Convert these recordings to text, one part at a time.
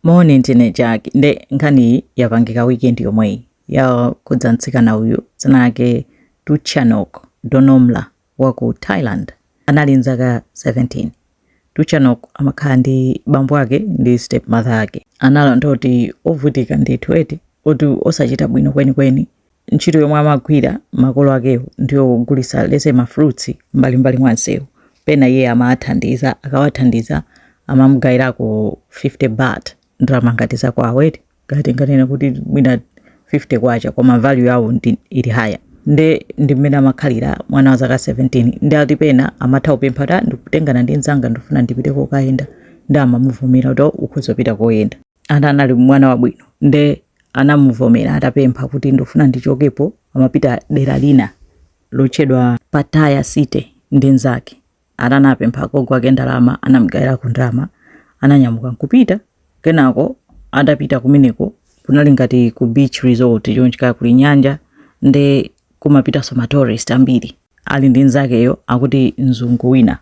Morning Tine Jack. Nde nkhani yapangika weekend yomweyi yokhudza mtsikana uyu dzina lake Tuchanok Donomla wa ku Thailand anali nzaka 17. Tuchanok amakhala ndi bambo ake ndi stepmother ake. Ananena kuti ovutika ndithu eti kuti osachita bwino kwenikweni ntchito yomwe amagwira makolo akewo ndiyogulitsa lese ma fruits mbalimbali mwa msewu pena iye amathandiza akawathandiza amamugawirako 50 baht ndalama ngati zakwawo eti ngati nganena kuti mwina 50 kwacha koma value yawo ndi ili higher nde ndi mmene amakhalira mwana wa zaka 17 nde ati pena amatha kupempha kuti ndikutengana ndi mzanga ndifuna ndipite kokayenda nde amamuvomera kuti ukhoza kupita koyenda ati anali mwana wabwino nde anamuvomera atapempha kuti ndifuna ndichokepo amapita dera lina lotchedwa Pattaya City ndi nzake ana anapempha agogo ake ndalama anamgawirako ndalama ananyamuka nkupita kenako atapita kumeneko kunali ngati ku beach resort chonchika kuli nyanja nde kumapitanso ma tourist ambiri ali ndi nzakeyo akuti mzungu wina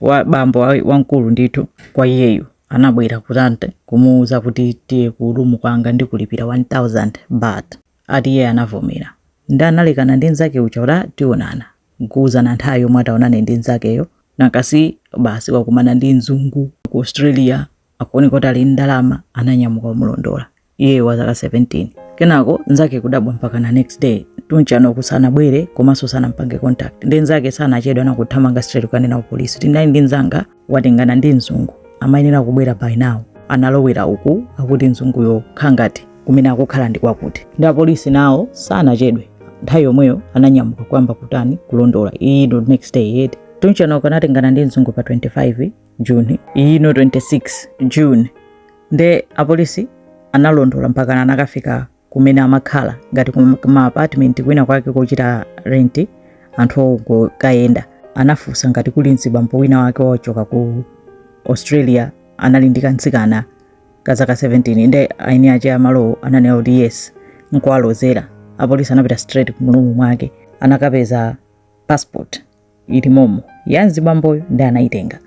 wa bambo wamkulu ndithu kwa iyeyo anabwera kutani kumuuza kuti tiye ku room kwanga ndikulipira 1000 baht ati iye anavomera nde analekana ndi nzake uja kuti "Ah, tionana nkuuzana nthawi yomwe ataonane ndi nzakeyo nakasi basi wakumana ndi mzungu waku australia akuoneka kuti ali ndi ndalama ananyamuka kumulondola iyeyo wa zaka 17 kenako nzake kudabwa mpaka na next day Tuchanok sanabwere komanso sanampange contact nde nzake sanachedwe anathamanga straight kukanena ku polisi kuti ndali ndi nzanga watengana ndi mzungu amayenera kubwera by now analowera uku akuti mzunguyo kaya ngati kumene akukhala ndi kwakuti nde apolisi nawo sanachedwe nthawi yomweyo ananyamuka kuyamba kutani kulondola ino ndi next day eti Tuchanok anatengana ndi mzungu pa 25 June ino 26 June nde apolisi analondola mpakana anakafika kumene amakhala ngati kuma apartment kwina kwake kochita rent anthu ongokayenda anafunsa ngati kuli mzibambo wina wake wochoka ku australia anali ndi kamtsikana ka zaka 17 nde eni ake amalowo ananena kuti yes nkuwalozera apolisi anapita straight mu room mwake anakapeza passport ili momo ya mzibamboyo nde anayitenga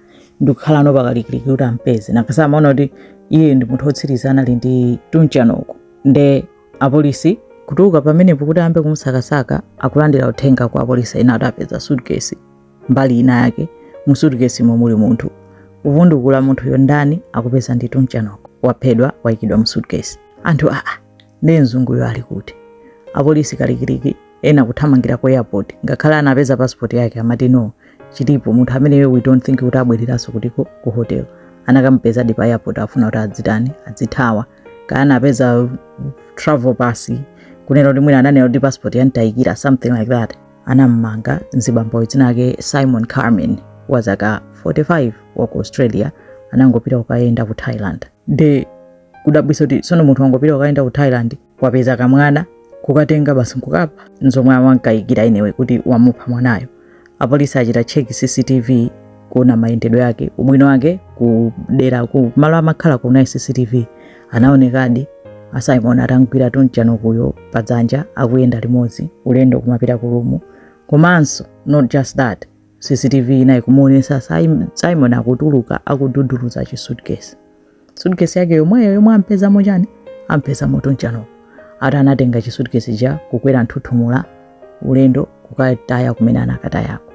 ndikukhalano pakalikiliki kuti ampeze nakasa amaona kuti iye ndi munthu wotsiriza anali ndi Tuchanok nde apolisi kutuluka pamenepo kuti ayambe kumusakasaka akulandira uthenga kwa apolisi ena ati apeza suitcase mbali ina yake mu suitcase mo muli munthu kuvundukula munthuyo ndani akupeza ndi Tuchanok waphedwa wayikidwa mu suitcase anthu aa nde mzunguyo ali kuti apolisi kalikiliki ena kuthamangira ku airport ngakhale anapeza passport yake amati no chilipo munthu ameneyo we don't think kuti abwereranso kutiko ku hotel anakamupezadi pa airport afuna kuti adzitani adzithawa kaya anapeza travel pass kunena kuti mwina ananena kuti passport yamtayikira something like that anammanga mzibamboyo dzina lake simon carmen wa zaka 45 wa ku australia anangopita kukayenda ku thailand nde kudabwisa kuti sono munthu wangopita kukayenda ku thailand wapeza kamwana kukatenga basi nkukapha nzomwe awankayikira inewe kuti wamupha mwanayo apolisi achita check cctv kuona mayendedwe yake ubwino wake kudera ku malo amakhala kuna cctv anaonekadi a simon atamgwira tunchanokuyo padzanja akuyenda limodzi ulendo kumapita ku room komanso not just that cctv inayi kumuonesa Sim- simon akutuluka akududuluza chi suitcase suitcase yake yomweyo yomwe ampezamo chani ampezamo tunchanok ati anatenga chi suitcase chija kukwera nthuthumula ulendo kukataya kumene anakatayako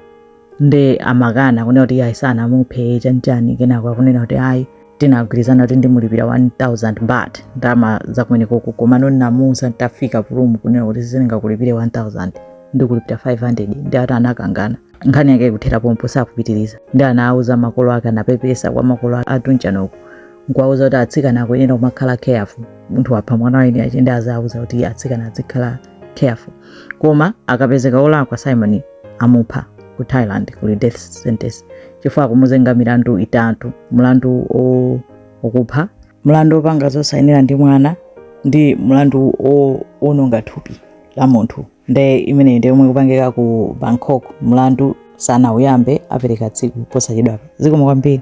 nde amakana kunena kuti ayi sanamuphe chanchani kenako akunena kuti ayi tinagwirizana kuti ndimulipira 1000 baht ndalama zakumenekoko komano ndinamuuza nditafika ku room kunena kuti sindingakulipire 1000 ndikulipira 500 nde ati anakangana nkhani yake ikuthera pompo sakupitiriza nde anauza makolo ake anapepesa kwa makolo a tunchanok nkuwauza kuti atsikana akuyenera kumakhala careful munthu wapha mwana wa eni ache nde azauza kuti atsikana azikhala careful koma akapezeka olakwa simon amupha ku thailand kuli death sentence chifukwa akumuzenga milandu itatu mlandu o- okupha mlandu opanga zosayenera ndi mwana ndi mlandu o- owononga thupi la munthu nde imeneyi ndi yomwe ikupangika ku bangkok mlandu sanauyambe apereka tsiku posachedwapa zikomo kwambiri